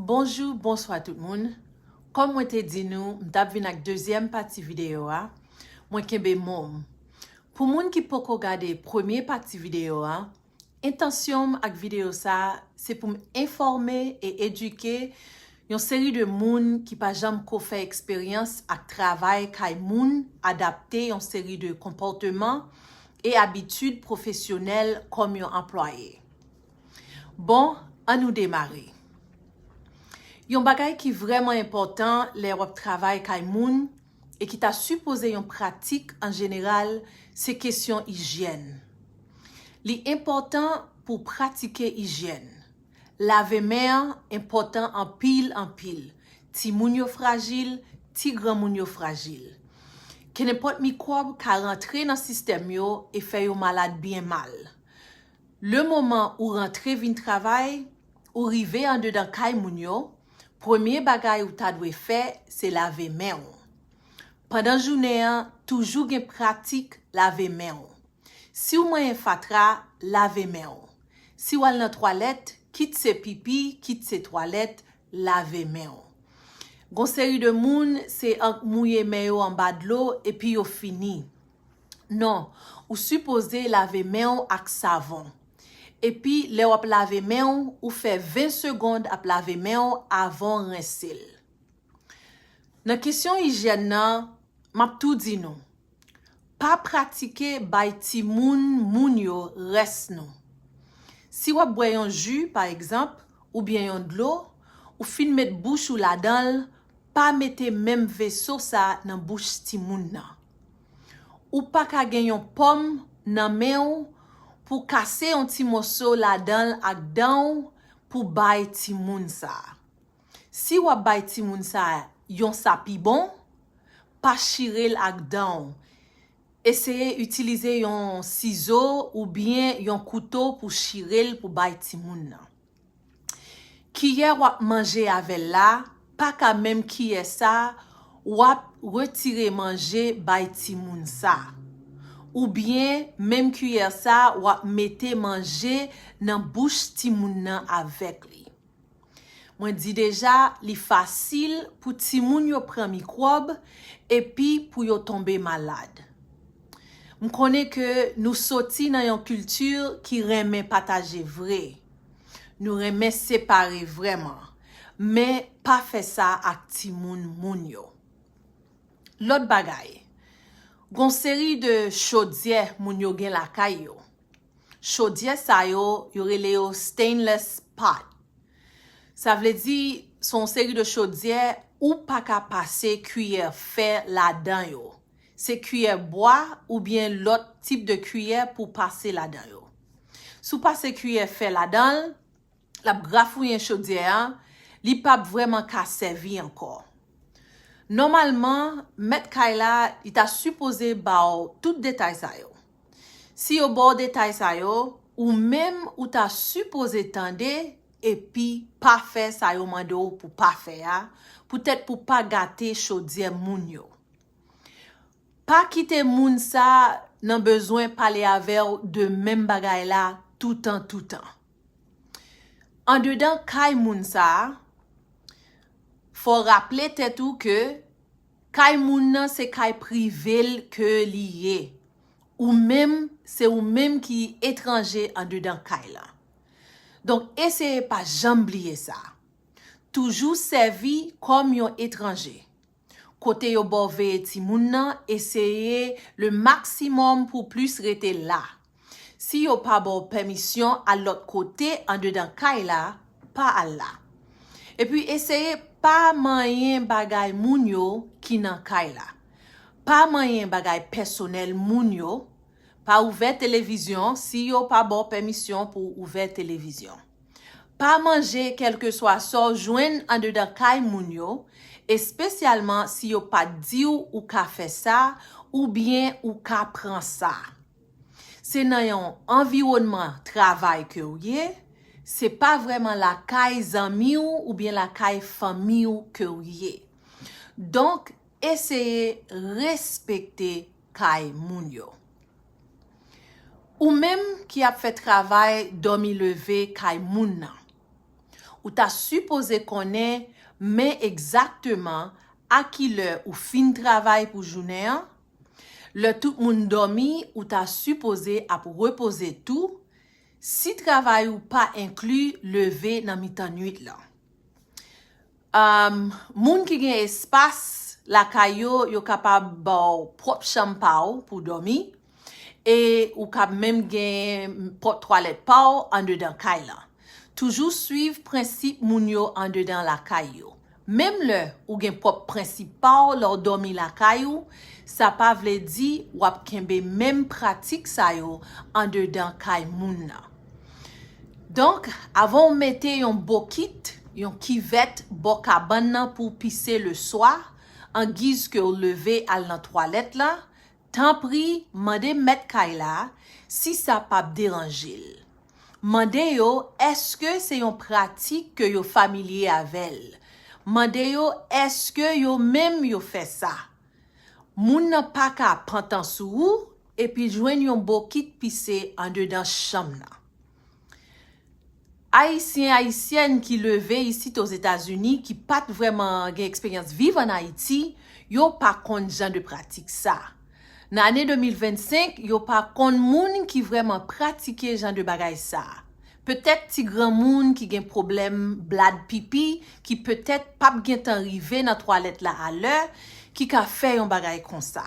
Bonjou bonswa tout moun kòm mwen te di nou m tap vin ak dezyèm pati videyo a mwen kenbe mo m pou moun ki poko gade premye pati videyo a entansyon m ak videyo sa se pou m enfòme e edike yon seri de moun ki pa janm ko fè eksperyans ak travay kay moun adapte yon seri de konpòteman e abitid pwofesyonèl kòm yon anplwaye. Bon, an nou demare. Yon bagay ki vrèman enpòtan lè w ap travay kay moun e ki ta sipoze yon pratik an jeneral se kesyon ijyèn. Li enpòtan pou w pratike ijyèn. Lave men an enpòtan anpil anpil. Timoun yo frajil, ti granmoun yo frajil. Kenenpòt mikwòb ka rantre nan sistèm yo e fè yo malad byen mal. Le moman ou rantre vin travay, ou rive andedan kay moun yo, premye bagay ou ta dwe fè se lave men ou. Pandan jounen an, toujou gen pratik lave men ou. Si w manyen fatra, lave men ou. Si w al nan twalèt, kit se pipi, kit se twalèt, lave men ou. Gon seri de moun, se ank mouye men yo anba dlo epi yo fini. Non, ou sipoze lave men w ak savon. Epi lè w ap lave men w, ou fè 20 segond ap lave men w avan w rense l. Nan kesyon ijyèn nan, m ap tou di nou, pa pratike bay timoun moun yo rès nou. Si w ap bwè yon ji, pa egzanp, oubyen yon dlo, ou fin met bouch ou ladan l, pa mete menm veso sa nan bouch timoun nan. Ou pa ka gen yon pòm nan men w pou kase yon ti moso ladan l ak dan w pou bay timoun sa. Si w ap bay timoun sa yon sa pi bon, pa chire l ak dan w. Eseye itilize yon sizo oubyen yon kouto pou chire l pou bay timoun nan. Kiyè wap manje avèl la paka menm kiyè sa wap retire manje bay timoun sa. Ou byen menm kiyè sa wap mete manje nan bouch timoun nan avèk li. Mwen di deja li fasil pou timoun yo pran mikwòb epi pou yo tonbe malad. M konnen ke nou soti nan yon kilti ki renmen pataje vre Nou renmen separe vrèman, men pa fè sa ak timoun moun yo. Lòt bagay, gon seri de chodyè moun yo gen lakay yo. Chodyè sa yo, yo rele yo stainless pot. Sa vle di, se yon seri de chodyè ou pa ka pase kiyè fè ladan yo. Se kiyè bwa oubyen lòt tip de kiyè pou w pase ladan yo. Si w pase kiyè fè ladan l, l ap grafouyen chodyè a, li p ap vrèman ka sèvi ankò. Nòmalman, mèt kay la, li ta sipoze ba w tout detay sa yo. Si yo ba w detay sa yo, ou menm ou ta sipoze tande epi pa fè sa yo mande w pou w pa fè a, poutèt pou w pa gate chodyè moun yo. Pa kite moun sa nan bezwen pale avèw de menm bagay la toutan toutan. Andedan kay moun sa, fòw raple tèt ou ke kay moun nan se kay privel ke li ye. Ou menm, se ou menm ki etranje andedan kay la. Donk eseye pa janm bliye sa. Toujou sèvi kòm yon etranje. Kote yo baw veye timoun nan eseye le maximum pou w plis rete la. Si yo pa baw pèmisyon al lòt kote andedan kay la, pa al la. Epi eseye pa manyen bagay moun yo ki nan kay la. Pa manyen bagay pèsonèl moun yo, pa ouvè televizyon si yo pa baw pèmisyon pou w ouvè televizyon. Pa manje kèlkeswa sa w jwenn andedan kay moun yo, espesyalman si yo pa t di w ou ka fè sa oubyen ou ka pran sa. Se nan yon anviwònman travay ke w ye, se pa vrèman lakay zanmi w oubyen lakay fanmi w ke w ye. Donk, eseye respekte kay moun yo. Ou menm ki ap fè travay dòmi leve kay moun nan, ou ta sipoze konnen men egzakteman a ki lè ou fin travay pou jounen an, lè tout moun dòmi ou ta sipoze ap repoze tou, si travay ou pa enkli leve nan mitan nuit lan. Moun ki gen espas lakay yo, yo kapab ba w pwòp chanm pa w pou w dòmi e ou kab menm gen pòt twalèt pa w andedan kay lan. Toujou suiv prensip moun yo andedan lakay yo. Menm lè ou gen pwòp prensip pa w lè w dòmi lakay ou, sa pa vle di w ap kenbe menm pratik sa yo andedan kay moun nan. Donk, avan w mete yon bokit, yon kivèt bò kabann nan pou w pise le swa, an giz ke w leve al nan twalèt la, tanpri mande mèt kay la si sa p ap deranje l. Mande yo èske se yon pratik ke yo familye avè l. Mande yo èske yo menm yo fè sa. Moun nan pa ka pantan sou ou Epi jwenn yon bokit pise andedan chanm nan. Ayisyen, Ayisyèn ki leve isit Ozetazini, ki pa t vrèman gen eksperyans viv ann Ayiti, yo pa konn jan de pratik sa. Nan ane 2025, yo pa konn moun ki vrèman pratike jan de bagay sa. Petèt ti granmoun ki gen pwoblèm blad pipi, ki petèt p ap gen tan rive nan twalèt la alè, ki ka fè yon bagay konsa.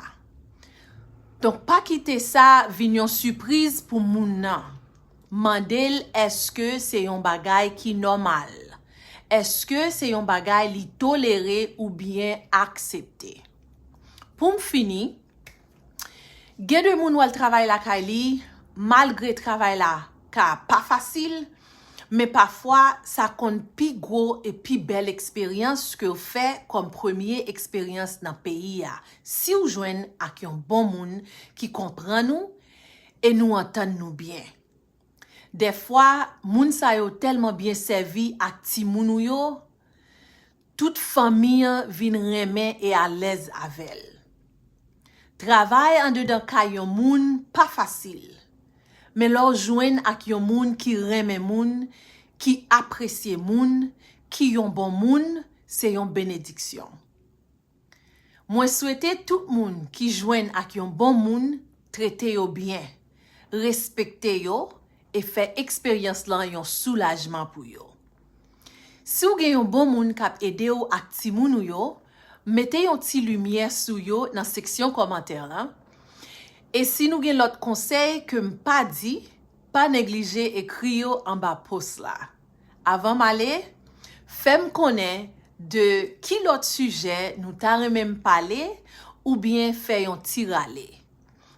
Donk pa kite sa vin yon sipriz pou moun nan. Mande l èske se yon bagay ki nòmal. Èske se yon bagay li tolere oubyen aksepte. Pou m fini, gen de moun w al travay lakay li, malgre travay la ka pa fasil, men pafwa sa konn pi gwo e pi bèl eksperyans ke w fè kòm premye eksperyans nan peyi a, Siw jwenn ak yon bon moun ki konprann ou e nou antann nou byen. Dèfwa moun sa yo tèlman byen sèvi ak timoun ou yo, tout fanmi an vin renmen e alèz avèl. Travay andedan kay yon moun pa fasil, men lè w jwenn ak yon moun ki renmen moun, ki apresye moun, ki yon bon moun, se yon benediksyon. Mwen swete tout moun ki jwenn ak yon bon moun trete yo byen, respekte yo e fè eksperyans lan yon soulajman pou yo. Si w gen yon bon moun k ap ede w ak timoun ou yo, mete yon ti limyè sou yo nan seksyon kòmantè lan, e si nou gen lòt konsèy ke m pa di, pa neglije ekri yo anba post la. Avan m ale, fè m konnen de ki lòt sijè nou ta renmen m pale oubyen fè yon ti rale.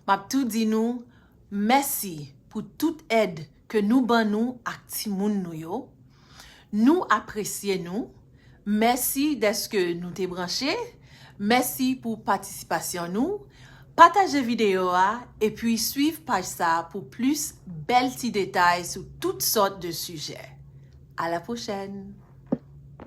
M ap tou di nou mèsi pou tout èd ke nou ban nou ak timoun nou yo. Nou apresye nou. Mèsi dèske nou te branche, mèsi pou patisipasyon nou, pataje videyo a epi swiv paj sa pou plis bèl ti detay sou tout sòt de sijè. A la pwochèn!